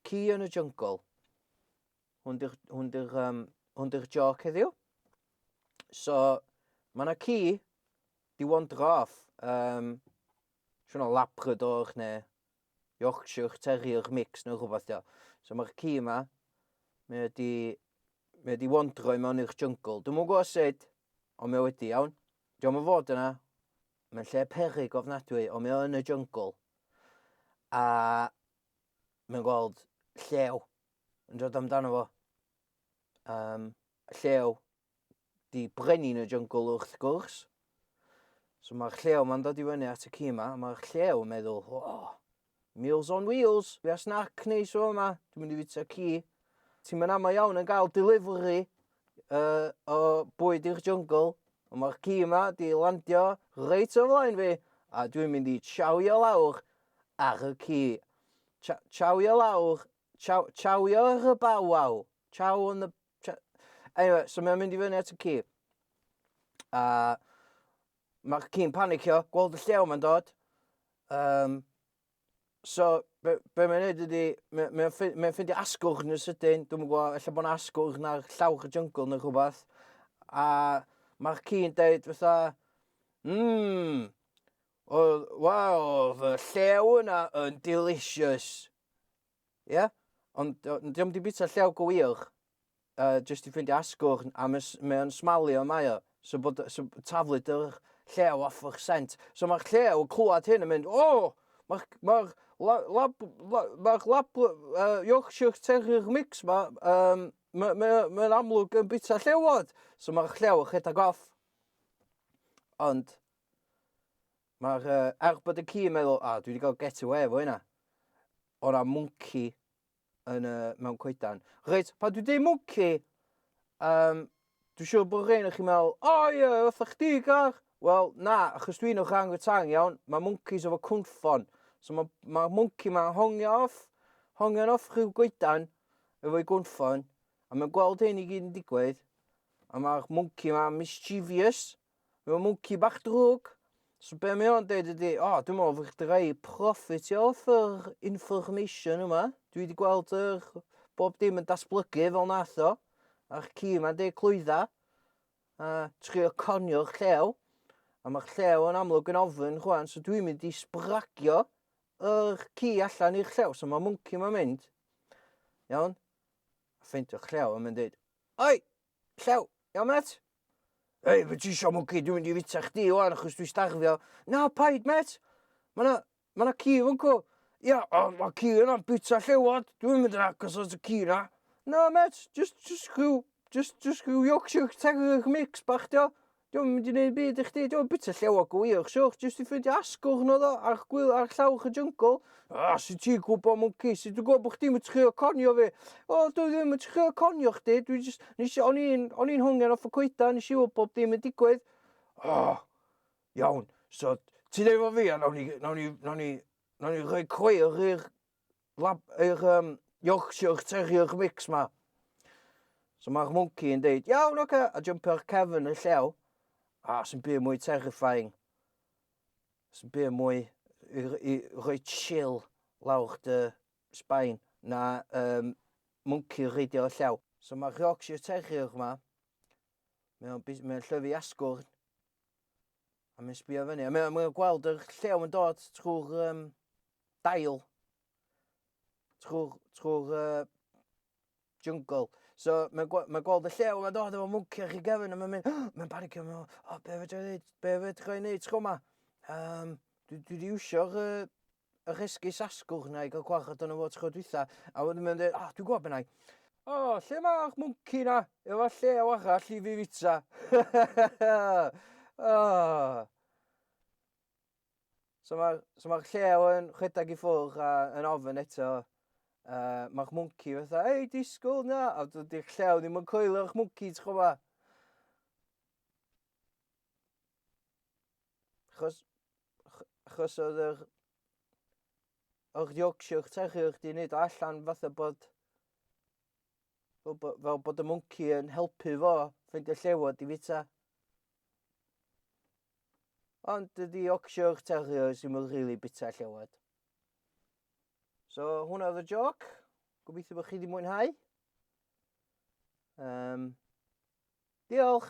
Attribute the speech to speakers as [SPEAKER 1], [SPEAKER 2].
[SPEAKER 1] Ci yn y jungle. Hwn di'r hwn di'r um, hwn di'r joc heddiw. So mae yna ci di wandro off. Um, Siwna labrador neu Yorkshire Terrier mix neu rhywbeth dio. So mae'r ci yma, mae wedi, mae wedi wandro i mewn i'r jungle. Dwi'n mwyn gwybod sut, Ond mae o wedi, iawn? Diolch yn fod yna. Mae'n lle perig ofnadwy, ond mae o yn y jungle. A mae'n gweld llew yn dod amdano fo. Um, llew di brenin y jungle wrth gwrs. So mae'r llew mae'n dod i fyny at y ci yma, mae'r llew yn meddwl, oh, Meals on Wheels, fi a snac neis o yma, dwi'n mynd i fita ci. Ti'n mynd amau iawn yn gael delivery uh, o bwyd i'r jungle, ond mae'r ci yma di landio reit o flaen fi, a dwi'n mynd i chawio lawr ar y ci. Chawio lawr, chawio ar y bawaw, chaw on the... Anyway, so mae'n mynd i fyny at y ci. A Mae ci'n panicio, gweld y llew mae'n dod. Um, so, be, be mae'n neud ydy, mae'n mae ffi- mae ffeindio asgwrn yn sydyn. Dwi'n gwybod, efallai bod yna asgwrn ar llawr y jungle neu rhywbeth. A mae'r ci'n deud fatha, mmm, oedd, wel, oedd y llew yna yn delicious. Ie? Ond o- n- dio'm 'di bita llew go wych, yy, jyst i ffeindio asgwrn, a mae mae o'n smalio mae o, so bod so b- taflu dy'r llew off o'ch sent. So mae'r llew yn clywed hyn yn mynd, "O! Mae'r mae'r la- lab la- mae'r lab uh, Yorkshire Terrier mix 'ma, yym, mae mae o mae o'n amlwg yn bita llewod!" So mae'r llew yn rhedeg off. Ond Mae'r uh, arbed y ci yn meddwl, a, ah, dwi wedi cael get away efo hynna. O ran mwnci yn, uh, mewn coedan. Reit, pa dwi dweud mwnci, um, dwi'n siŵr bod rhain o'ch chi'n meddwl, o oh, ie, yeah, fatha chdi gar. Wel, na, achos dwi'n o'ch rhan tang iawn, mae mwncis efo cwnffon. So mae ma mwnci ma'n hongio off, hongion off rhyw goedan efo'i gwnffon, a mae'n gweld hyn i gyd yn digwydd, a mae'r mwnci ma'n mischievous, Mae o'n mwnci bach drwg. So be mae o'n deud ydy, o, dwi'n meddwl fod chdi rhai profit i off yr information yma. Dwi wedi gweld yr bob dim yn datblygu fel nath o. A'r ci yma'n deud clwydda. A trio conio'r llew. A mae'r llew yn amlwg yn ofyn chwan, so dwi'n mynd i sbragio yr ci allan i'r llew. So mae mwnci yma'n mynd. Iawn? A ffeindio'r llew a mae'n deud, Oi! Llew, iawn met? Ei, fe ti isio mwci, dwi'n mynd i fita chdi o'n achos dwi'n stagfio. Na, paid met! Mae yna ma na ci fan cw. Ia, o, mae ci yna'n bita llewod, dwi'n mynd yn agos at y ci yna. Na, met, just, just rhyw, just, just rhyw Yorkshire Terrier mix bach, dio. Dio'm yn mynd i neud byd i chdi, dio'm yn bita llew o gwych, siwch jyst i ffeindio asgwrn oedd o ar gwyl ar llawr y jungle. Ah, sut ti'n gwybod mwnci, sut ti'n gwybod bod chdi'm yn trio conio fi? O, dwi ddim yn trio conio chdi, dwi jyst, nes i, o'n i'n, o'n i'n hongen off y coeda, nes i wybod bod dim yn digwydd. Oh, iawn, so ti'n efo fi a nawn ni, nawn ni, nawn ni, nawn ni rhoi cweir i'r lab, eich um, Yorkshire Terrier mix ma. So mae'r monkey yn deud, iawn, oce, okay, a jump ar cefn y llew. A sy'n byd mwy terrifying. Sy'n byd mwy i, i roi chill lawr dy sbaen na um, monkey reidio y llew. So mae'r Yorkshire Terrier yma, mae'n mae llyfu asgwrn, A mae'n sbio fyny. A mae'n mae gweld yr llew yn dod trwy'r um, dail. Trwy'r trwy'r uh, jungle. So mae'n gwe- mae gweld y llew yn dod efo mwnci ar ei gefn a mae'n mynd, oh, mae'n panicio, mae'n meddwl, o, be fedra i wneud, be fedra i wneud tro yma? Um, dwi, dwi wedi iwsio'r uh, yr esgus asgwrn na i gael gwarchod yno fo tro dwytha, a wedyn mae'n dweud, oh, dwi'n gwybod beth na i. O, oh, lle mae'r mwnci na? Efo llew arall i fi fita. oh. So mae'r so ma llew yn rhedeg i ffwrdd a yn ofyn eto, uh, mae'r mwnci fatha, ei, disgwyl na, a dydy'r llew ddim yn coelio'r mwnci, ti'n chwba? Chos, chos oedd yr, yr Yorkshire Terrier di wneud allan fatha bod, fel, fel bod y mwnci yn helpu fo fynd y llewod i fita. Ond dydy Yorkshire Terriers ddim yn rili bita llewod. So hwnna oedd y joc. Gobeithio bod chi wedi mwynhau. Um, diolch!